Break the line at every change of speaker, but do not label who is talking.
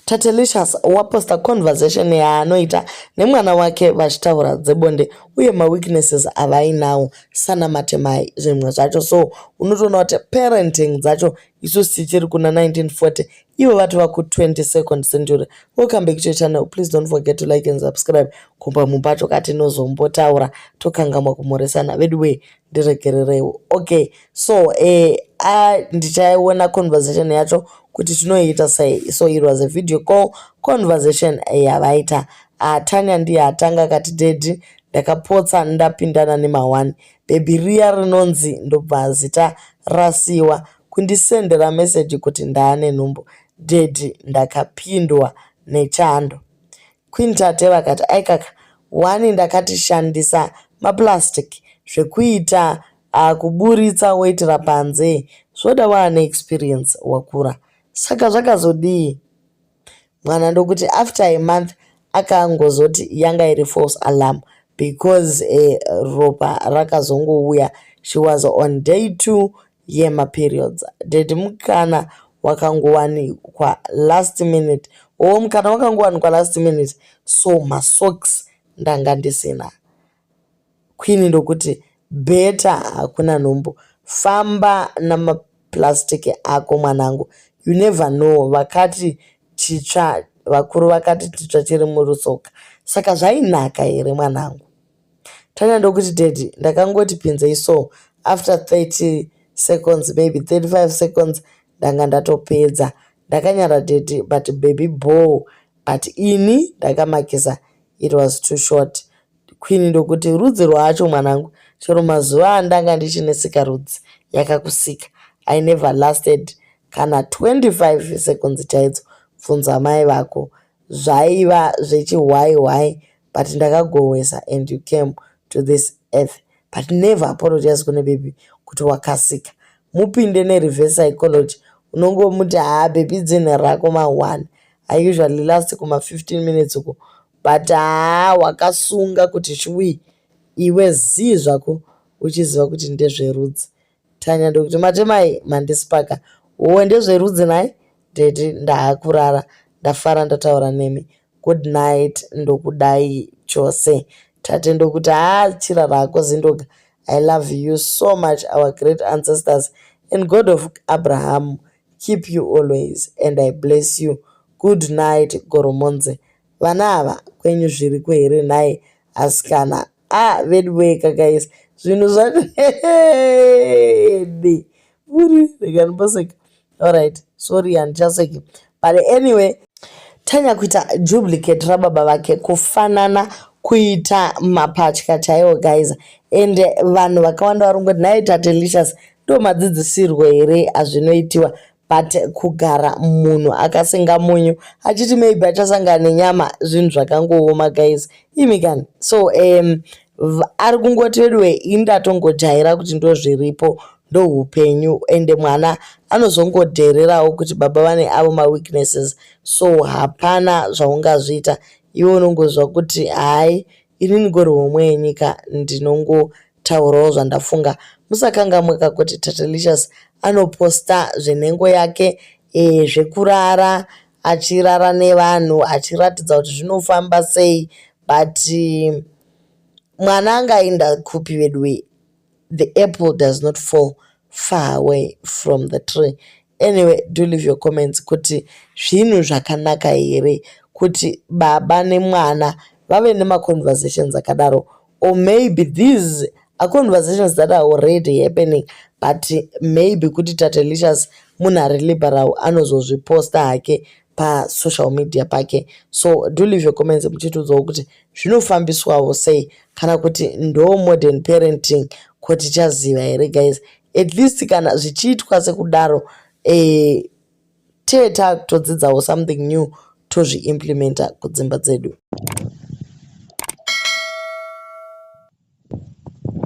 Tatelicious waposta conversation yaanoita nemwana wake vachitaura dzebonde uye maweaknesses avainawo sana matemai zvimwe zvacho so unotoona kuti parenting dzacho isu tichiri kuna 1940 ivo vati vaku 22nd century welcome back to channel please don't forget to like and subscribe kumba mumba tokati nozombotaura tokangamwa kumhoresana veduwee ndiregerereiwo okay so eh, a ndichaiona conversation yacho kuti tinoiita sei so it was a video call conversation eh, yavaita uh, ah, tanya ndiye atanga akati dedi ndakapotsa ndapindana nemaone bhebhi riya rinonzi ndobva zita rasiwa kundisendera meseji kuti ndaane nhumbu dedi ndakapindwa nechando Queen Tate vakati, aikaka, wani ndakati shandisa maplastic zvekuita ah, kuburitsa woitira panze zvoda waane experience wakura. Saka zvakazodii? Mwana ndokuti after a month akangozoti yanga iri false alarm because eh, ropa rakazongouya she was on day two yemaperiods daddy mukana wakangowanikwa last minute oh mukana wakangowanikwa last minute so masocks ndanga ndisina queen ndokuti beta hakuna nhumbu famba namaplastic ako mwanangu you never know vakati chitsva vakuru vakati titsva chiri murusoka saka zvainaka here mwanangu Tanya ndokuti daddy ndakangoti pinzei so after 30 seconds baby 35 seconds ndanga ndatopedza ndakanyara daddy but baby boo but ini ndakamakisa it was too short queen ndokuti rudzi rwacho mwanangu chero mazuva andanga ndichinetsika rudzi yakakusika i never lasted kana 25 seconds chaidzo bvunza mai vako zvaiva zvechihwai hwai but ndakagohwesa and you came to this earth but never apologize kune baby kuti wakasika mupinde nereverse psychology unongomuti haa baby dzinha rako ma-one i usually last kuma-15 minutes uko but haa wakasunga kuti chwii iwe zii zvako uchiziva kuti ndezverudzi Tanya ndokuti matemai mandisipaka uwe ndezverudzi nhai daddy ndaakurara ndafara ndataura nemi good night ndokudai chose tate ndokuti haa chira rako zindoga i love you so much our great ancestors and god of abraham keep you always and i bless you good night goromonze vana ava kwenyu zviriko here nhai asikana ah veduwee kakaisa zvinhu zvacho hede muri rekanipaseka allright sorry handichaseki but anyway tanya kuita duplicate rababa vake kufanana kuita mapatya chaiwo guys and vanhu vakawanda vari kungoti nhai tatelicious ndo madzidzisirwo here azvinoitiwa but kugara munhu akasenga munyu achiti maybe achasangana nenyama zvinhu zvakangooma guys imi kani so um, ari kungoti veduwe ini ndatongojaira kuti ndozviripo ndohupenyu ende mwana anozongodhererawo kuti baba vane avo maweaknesses so hapana zvaungazviita iwe unongozva kuti hai ini ndigori homwe yenyika ndinongo Taurawo zvandafunga musakangamwe ka kuti Tatelicious anoposta zvenhengo yake e, zvekurara achirara nevanhu achiratidza kuti zvinofamba sei but um, mwana angainda kupi veduwe the apple does not fall far away from the tree anyway do leave your comments kuti zvinhu zvakanaka here kuti baba nemwana vave nemaconversations akadaro or maybe these are conversations that are already happening but maybe kuti tatelicious munhu ari liberal anozozviposta hake pasocial media pake so do leave your comments muchitiudzawo kuti zvinofambiswawo sei kana kuti ndo modern parenting ko tichaziva here guys at least kana zvichiitwa sekudaro eh, tee tatodzidzawo something new tozviimplementa kudzimba dzedu.